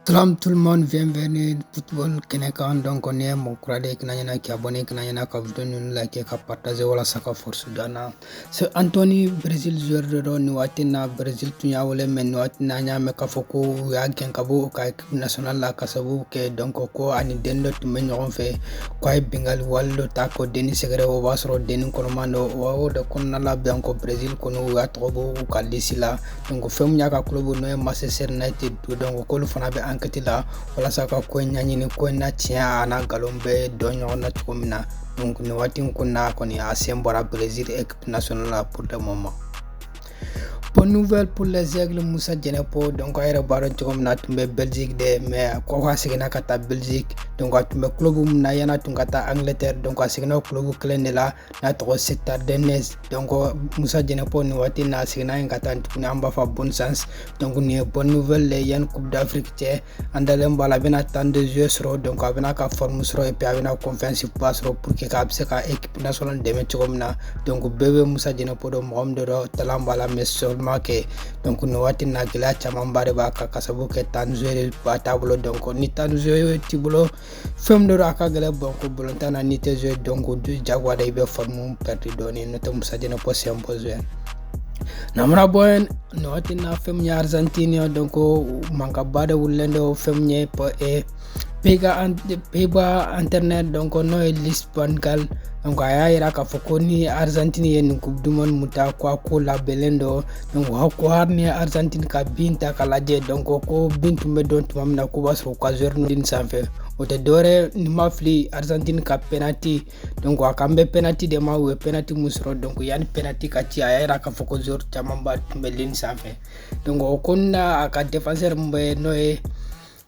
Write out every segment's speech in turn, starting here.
Salam tout le monde, bienvenue football kɛnɛ kan donc n'i ye mɔgɔ kura de ye kana ɲina k'i abonné kana ɲina ka video ninnu like ka partager walasa ka force don an na c'est Anthony Brésil joueur de don nin waati in na Brésil tun y'a wele mais nin waati in na an y'a mɛn k'a fɔ ko u y'a gɛn ka bɔ u ka équipe nationale la ka sababu kɛ donc ko a ni denni dɔ tun bɛ ɲɔgɔn fɛ ko a ye binkanni wale dɔ ta ko denni sɛgɛrɛ o b'a sɔrɔ denni kɔnɔman don o de kɔnɔna la donc Brésil kɔni u y'a tɔgɔ bɔ u ka liste la donc fɛn min y'a ka club n'o ye Manchester United donc k'olu fana bɛ enquête la walasa ka ko in ɲaɲini ko in na tiɲɛ ani nkalon bɛ dɔn ɲɔgɔn na cogo min na donc nin waati in kɔnɔna kɔni a sen bɔra Brésil équipe nationale la pour le moment Bonne nouvelle pour les aigles Moussa Djenepo donc a yɛrɛ b'a dɔn cogo min na a tun bɛ Belgique dɛ mais ko a seginna ka taa Belgique donc a tun bɛ club min na yan'a tun ka taa Angleterre donc a seginna o club kelen de la n'a tɔgɔ Standard Liège donc Moussa Djenepo nin waati n'a seginna yen ka taa tuguni an b'a fɔ bonne chance donc nin ye bonne nouvelle le yanni coupe d'afrique cɛ an dalen b'a la a bɛna temps de jeu sɔrɔ donc a bɛn'a ka forme sɔrɔ et puis a bɛna confiance ba sɔrɔ pour que k'a bɛ se ka équipe nationale dɛmɛ cogo min na donc bɛɛ bɛ Moussa Djenepo dɔn mɔgɔ min de don talent b'a la mais seulement que donc nin waati na gɛlɛya camanba de b'a kan ka sababu kɛ temps jeu ba t'a bolo donc ni temps jeu t'i bolo fɛn dɔ a ka gɛlɛ bɔn ko bolontan na ni tɛ zo dɔn ko du jagoya da i bɛ faamu pɛrɛdi dɔɔni n'o tɛ musajɛnɛ pɔsiyɛn pɔsiyɛn namara bɔn nɔ tɛ na fɛn min ye arzantini dɔn ko mankaba de wulilen dɔ fɛn min ye pɔ e pega peba internet dɔn ko n'o ye lisbongal dɔn a y'a yira k'a fɔ ko ni arzantini ye nin kubu dumuni mun ta ko a ko labɛnnen dɔ donc ko hali n'i Argentine ka bi ta ka lajɛ donc ko bi tun bɛ don tuma min na k'u b'a sɔrɔ ka joueur ligne sanfɛ o tɛ dɔwɛrɛ ni n ma fili Argentine ka penalty donc a kan bɛ penalty de ma u ye penalty min sɔrɔ donc yanni penalty ka ci a y'a yira k'a fɔ ko joueur camanba tun bɛ ligne sanfɛ donc o kɔnɔna a ka défenseur min bɛ n'o ye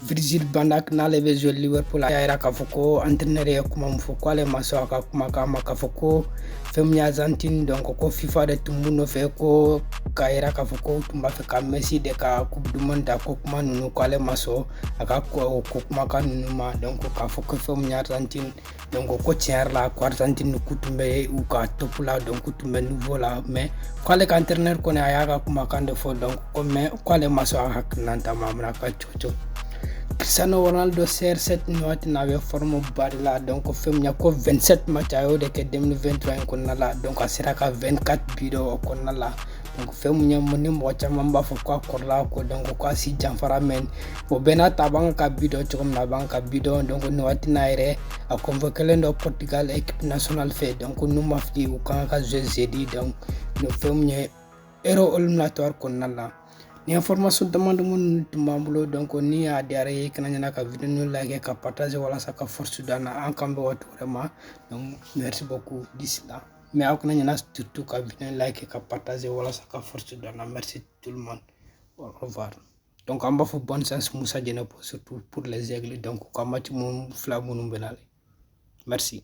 Virgil van Dijk n'ale bɛ jouer Liverpool a y'a yira k'a fɔ ko entraîneur ye kuma min fɔ k'ale ma sɔn a ka kumakan ma k'a fɔ ko fɛn min ye Argentine donc ko FIFA de tun b'u nɔfɛ ko k'a yira k'a fɔ k'u tun b'a fɛ ka Messi de ka coupe du monde ta ko kuma ninnu k'ale ma sɔn a ka o ko kumakan ninnu ma donc k'a fɔ ko fɛn min ye Argentine donc ko tiɲɛ yɛrɛ la ko Argentine k'u tun bɛ u ka top la donc k'u tun bɛ niveau la mais k'ale ka entraîneur kɔni a y'a ka kumakan de fɔ donc ko mais k'ale ma sɔn a hakilinata ma a bɛna ka chouchou Cristiano Ronaldo CR7 nin waati na a bɛ forme ba de la donc fɛn min ko 27 match a y'o de kɛ 2023 in kɔnɔna la donc a sera ka 24 bi don o kɔnɔna la fɛn mun ye ni mɔgɔ caman b'a fɔ k'a kɔrɔla ko donc k'a si janfara mais o bɛɛ n'a ta a b'an ka bi don cogo min na a b'an ka bi don donc nin waati n'a yɛrɛ a convoquelen don portugal equipe nationale fɛ donc ni n ma fili u kan ka jouer jeudi don nin fɛn mun ye euro eliminatoire kɔnɔna la ni information damadɔ minnu tun b'an bolo donc ni a diyara aw ye kana ɲina ka video like ka partage walasa ka force d'an na an k'an bɛn waati wɛrɛ ma merci beaucoup d'ici là mais aw kana ɲina surtout ka video like ka partage walasa ka force d'an na merci tout le monde au revoir donc an b'a fɔ bonne chance musa jɛnɛpo surtout pour les aigles donc ka match mun fila minnu bɛ na merci